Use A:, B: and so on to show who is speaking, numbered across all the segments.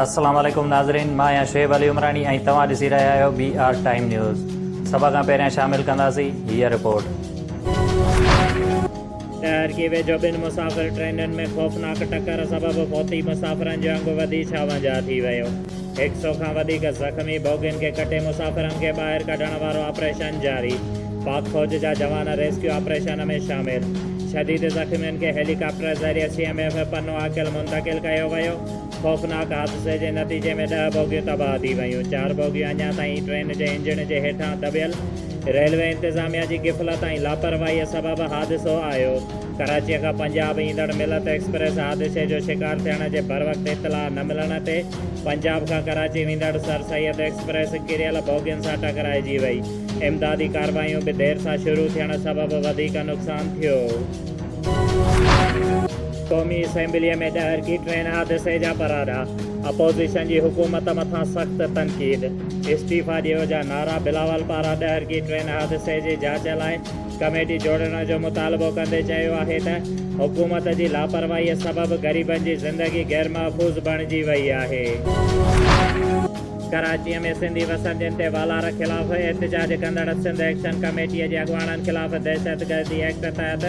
A: السلام عليڪم ناظرين مان آهيان شعيب علي عمراڻي ۽ توهان ڏسي رهيا آهيو بي آر ٽائيم نيوز سڀ کان پهريان شامل ڪنداسين هيء رپورٽ شهر
B: کي ويجهو ٻن مسافر ٽرينن ۾ خوفناڪ ٽڪر سبب فوتي مسافرن جو انگ وڌي ڇاونجاهه ٿي ويو هڪ سئو کان وڌيڪ زخمي بوگين کي ڪٽي مسافرن کي ٻاهر ڪڍڻ وارو آپريشن جاري پاڪ فوج جا جوان ريسڪيو آپريشن ۾ شامل شديد زخمين کي هيلي ڪاپٽر ذريعي C M F Pano Akil منتقل ڪيو ويو، خوفناڪ حادثي جي نتيجي ۾ ڏهه بوگيون تباهه ٿي ويون، چار بوگيون اڃا تائين ٽرين جي انجڻ جي هيٺان دٻيل، ريلوي انتظاميا جي غفلت ۽ لاپرواهي سبب حادثو آيو، ڪراچيء کان پنجاب ايندڙ ملت ايڪسپريس حادثي جو شڪار ٿيڻ جي بروقت اطلاع نه ملڻ تي پنجاب کان ڪراچي ويندڙ سر سيد ايڪسپريس ڪريل بوگين سان ٽڪرائجي وئي. امدادي ڪارروايون به دير سان شروع ٿيڻ سبب وڌيڪ نقصان ٿيو. قومي اسيمبليء ۾ ڏهرڪي ٽرين حادثي جا پراڏا، اپوزيشن جي حڪومت مٿان سخت تنقيد، استعيفا ڏيو جا نعرا بلاول پاران ڏهرڪي ٽرين حادثي جي جاچ لاء ڪميٽي جوڙڻ جو مطالبو ڪندي چيو آهي ته حڪومت جي لاپرواهيء سبب غريبن جي زندگي غيرمحفوظ بڻجي وئي آهي. ڪراچيء ۾ سنڌي وسندين تي والار خلاف احتجاج ڪندڙ سنڌ ايڪشن ڪميٽيء جي اڳواڻن خلاف دهشتگردي ايڪٽ تحت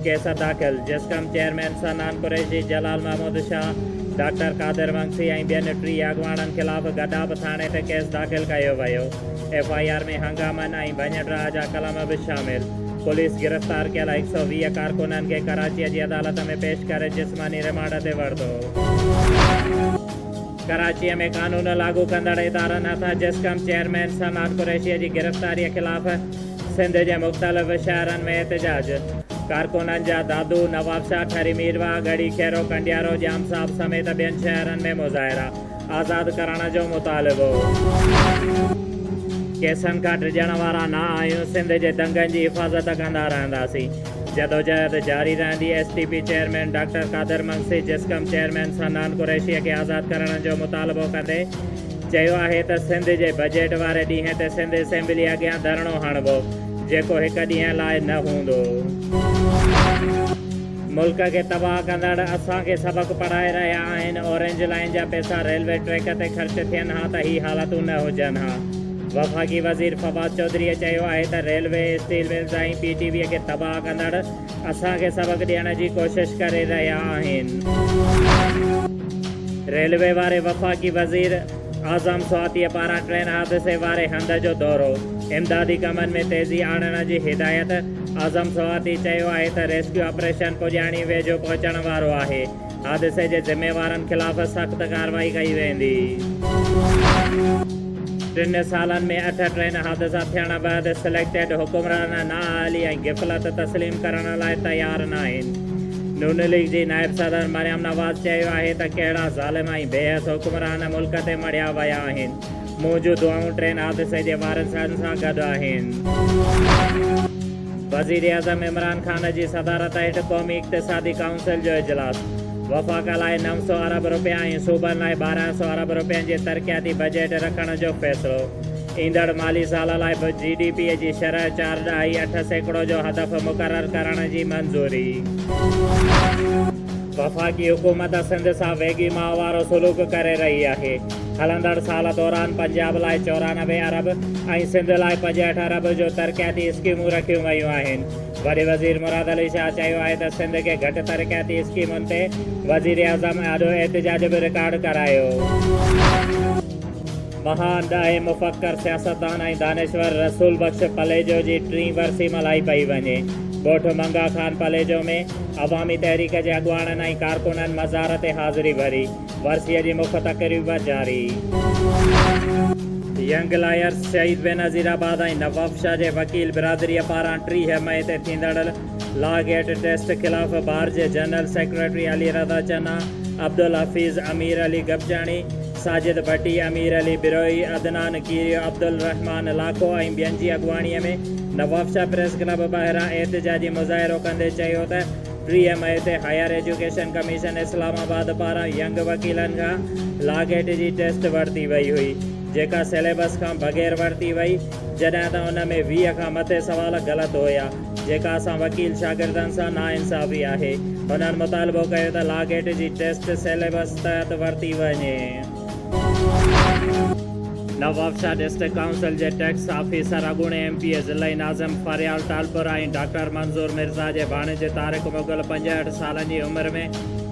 B: ڪيس داخل، جسقم چيئرمين صنعان قريشي، جلال محمود شاهه، ڊاڪٽر قادر ونگسي ۽ ٻين ٽيهه اڳواڻن خلاف گڏاپ ٿاڻي ته ڪيس داخل ڪيو ويو، ايف آء آر ۾ هنگامن ۽ ڀڃ ڊاهه جا قلم به شامل، پوليس گرفتار ڪيل هڪ سؤ ويهه ڪارڪنن کي ڪراچيء جي عدالت ۾ پيش ڪري جسماني رمانڊ تي ورتو. ڪراچيء ۾ قانون لاڳو ڪندڙ ادارن هٿان جسقم چيئرمين صنعت قريشيء جي گرفتاريء خلاف سنڌ جي مختلف شهرن ۾ احتجاج، ڪارڪنن جا دادو، نوابشاهه، ٺري ميرواهه، ڳڙهي کيرو، ڪنڊيارو، ڄام صاحب سميت ٻين شهرن ۾ مظاهرا، آزاد ڪرڻ جو مطالبو. ڪيسن کان ڊڄڻ وارا نه آهيون، سنڌ جي دنگن جي حفاظت ڪندا رهنداسين. جدوجهد جاري رهندي، S T P chairman doctor Qadir Magsi Jasqam chairman Sanan قريشيء کي آزاد ڪرڻ جو مطالبو ڪندي چيو آهي ته سنڌ جي بجيٽ واري ڏينهن تي سنڌ اسيمبلي اڳيان ڌرڻو هڻبو جيڪو هڪ ڏينهن لاء نه هوندو. ملڪ کي تباهه ڪندڙ اسان کي سبق پڙهائي رهيا آهن، اورينج لائين جا پيسا ريلوي ٽريڪ تي خرچ ٿين ها ته هي حالتون نه هجن ها. وفاقي وزير فواد چوڌريء چيو آهي ته railway, steel mills ۽ P T V کي تباهه ڪندڙ اسان کي سبق ڏيڻ جي ڪوشش ڪري رهيا آهن. ريلوي واري وفاقي وزير اعظم سواتيء پاران ٽرين حادثي واري هنڌ جو دورو، امدادي ڪمن ۾ تيزي آڻڻ جي هدايت، اعظم سواتي چيو آهي ته ريسڪيو آپريشن پڄاڻي ويجهو پهچڻ وارو آهي، حادثي جي ذميوارن خلاف سخت ڪارروائي ڪئي ويندي. ٽن سالن ۾ اٺ ٽرين حادثا ٿيڻ بعد سليڪٽيڊ حڪمران نااهلي ۽ غفلت تسليم ڪرڻ لاء تيار ناهن. نون ليگ جي نائب صدر مريم نواز چيو آهي ته ڪهڙا ظالم ۽ بي حس حڪمران ملڪ تي مڙهيا ويا آهن، منهنجون دعائون ٽرين حادثي جي وارثن سان گڏ آهن. وزيراعظم عمران خان جي صدارت هيٺ قومي اقتصادي ڪائونسل جو اجلاس، وفاق لاء نو سؤ ارب رپيا ۽ صوبن لاء ٻارهن سؤ ارب رپين جي ترقياتي بجيٽ رکڻ جو فيصلو، ايندڙ مالي سال لاء به جي ڊي پي جي شرح چار ڏهائي اٺ سيڪڙو جو هدف مقرر ڪرڻ جي منظوري. وفاقي حڪومت سنڌ سان ويڳي ماء وارو سلوڪ ڪري رهي آهي. هلندڙ سال دوران پنجاب لاء چورانوي ارب ۽ سنڌ لاء پنجهٺ ارب جو ترقياتي اسڪيمون رکيون ويون آهن. وڏي وزير مراد علي شاهه چيو آهي ته سنڌ کي گهٽ ترقياتي اسڪيمن تي وزيراعظم آڏو احتجاج به رڪارڊ ڪرايو. مهان ڏاهي مفڪر سياستدان ۽ دانشور رسول بخش پليجو جي ٽين ورسي ملهائي پئي وڃي. ڳوٺ منگها خان پليجو ۾ عوامي تحريڪ جي اڳواڻن ۽ ڪارڪنن مزار تي حاضري ڀري. ورسيء جي مک تقريب جاري. ينگ لائرز شهيد بينظير آباد ۽ نوابشاهه جي وڪيل برادريء پاران ٽيهه مئي تي ٿيندڙ لا گيٽ ٽيسٽ خلاف بار جي جنرل سيڪريٽري علي رضا چنا، عبدالحفيظ، امير علي گپچاڻي، ساجد ڀٽي، امير علي بروهي، عدنان کيريو، عبدالرحمان لاکو ۽ ٻين جي اڳواڻيء ۾ نوابشاهه پريس ڪلب ٻاهران احتجاجي مظاهرو ڪندي چيو ته ٽيهه مئي تي higher education commission Islamabad پاران ينگ وڪيلن کان لا گيٽ جي ٽيسٽ ورتي وئي هئي، جيڪا سليبس کان بغير ورتي وئي، جڏهن ته ان ۾ ويهه کان مٿي سوال غلط هيا، جيڪا اسان وڪيل شاگردن سان ناانصافي آهي. هنن مطالبو ڪيو ته لا گيٽ جي ٽيسٽ سليبس تحت ورتي وڃي. نوابشاهه ڊسٽرڪٽ ڪائونسل جي ٽيڪس آفيسر اڳوڻي ايم پي اي ضلعي ناظم فريال ٽالپر ۽ ڊاڪٽر منظور مرزا جي ڀاڻيجي طارق مغل پنجهٺ سالن جي عمر ۾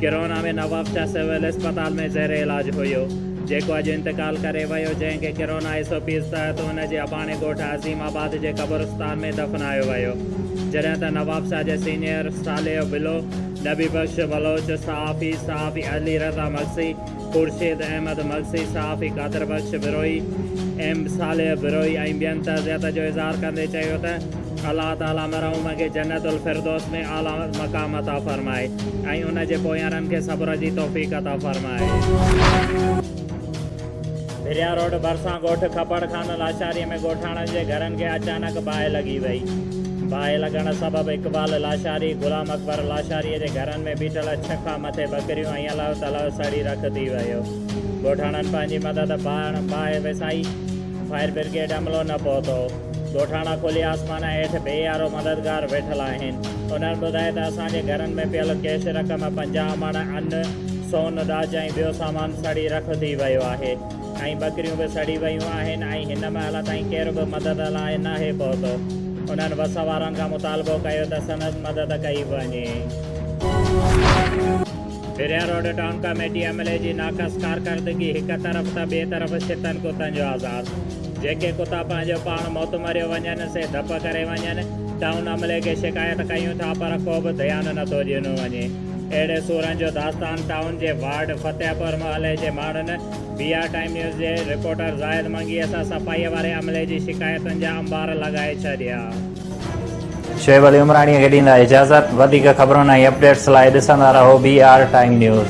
B: ڪرونا ۾ نوابشاهه سول اسپتال ۾ زير علاج هيو جيڪو اڄ انتقال ڪري ويو جنهن کي ڪرونا ايس او پيز تحت ان جي اباڻي ڳوٺ عظيم آباد جي قبرستان ۾ دفنايو ويو جڏهن ته نوابشاهه جي سينيئر صالح بلو، نبي بخش بلوچ، صحافي صحافي علي رضا مگسي، خورشيد احمد مگسي، صحافي قادر بخش بروهي، ايم صالح بروهي ۽ ٻين تعزيت جو اظهار ڪندي چيو ته الله تعاليٰ مرحوم کي جنت الفردوس ۾ اعليٰ مقام عطا فرمائي ۽ ان جي پويارن کي صبر جي توفيق عطا فرمائي. ڀريا روڊ ڀرسان ڳوٺ کپڙ خان لاشاري ۾ ڳوٺاڻن جي گهرن کي اچانڪ باهه لڳي وئي. باهه لڳڻ سبب اقبال لاشاري، غلام اڪبر لاشاري جي گهرن ۾ بيٺل ڇهه کان مٿي ٻڪريون الله تعاليٰ ساڙي رک ٿي ويو. ڳوٺاڻن پنهنجي مدد پاڻ باهه وسائي. فائر برگيڊ عملو نه پهتو. ڳوٺاڻا کلي آسمان هيٺ بي يارو مددگار ويٺل آهن. انهن ٻڌائي ته اسان جي گهرن ۾ پيل ڪيش رقم، پنجاهه مڻ ان، سون، ڏاج ۽ ٻيو سامان سڙي رک ٿي ويو آهي. ۽ ٻڪريون به سڙي ويون آهن ۽ هن مهل تائين ڪير به مدد لاء ناهي پهتو. انهن بس وارن کان مطالبو ڪيو ته سندس مدد ڪئي وڃي. پھريان روڊ ٽائون ڪاميٽي عملي جي ناقص ڪارڪردگي هڪ طرف ته ٻئي طرف شتن ڪتن جو آزار. جيڪي ڪتا پنهنجو پاڻ موت مريو وڃن سي ڌپ ڪري وڃن. ٽائون عملي کي شڪايت ڪيون ٿا پر ڪو به ڌيان نه ٿو ڏنو وڃي. اهڙي سورن جو داستان ٽائون جي وارڊ فتح پور محلي جي ماڻهن بي آر ٽائيم نيوز جي رپورٽر زاهد منگيء تھ صفائيء واري عملي جي شڪايتن جا انبار لڳائي ڇڏيا.
A: شعيب علي عمراڻيء کي ڏيندا اجازت. وڌيڪ خبرن ۽ اپڊيٽس لاء ڏسندا رهو بي آر ٽائيم نيوز.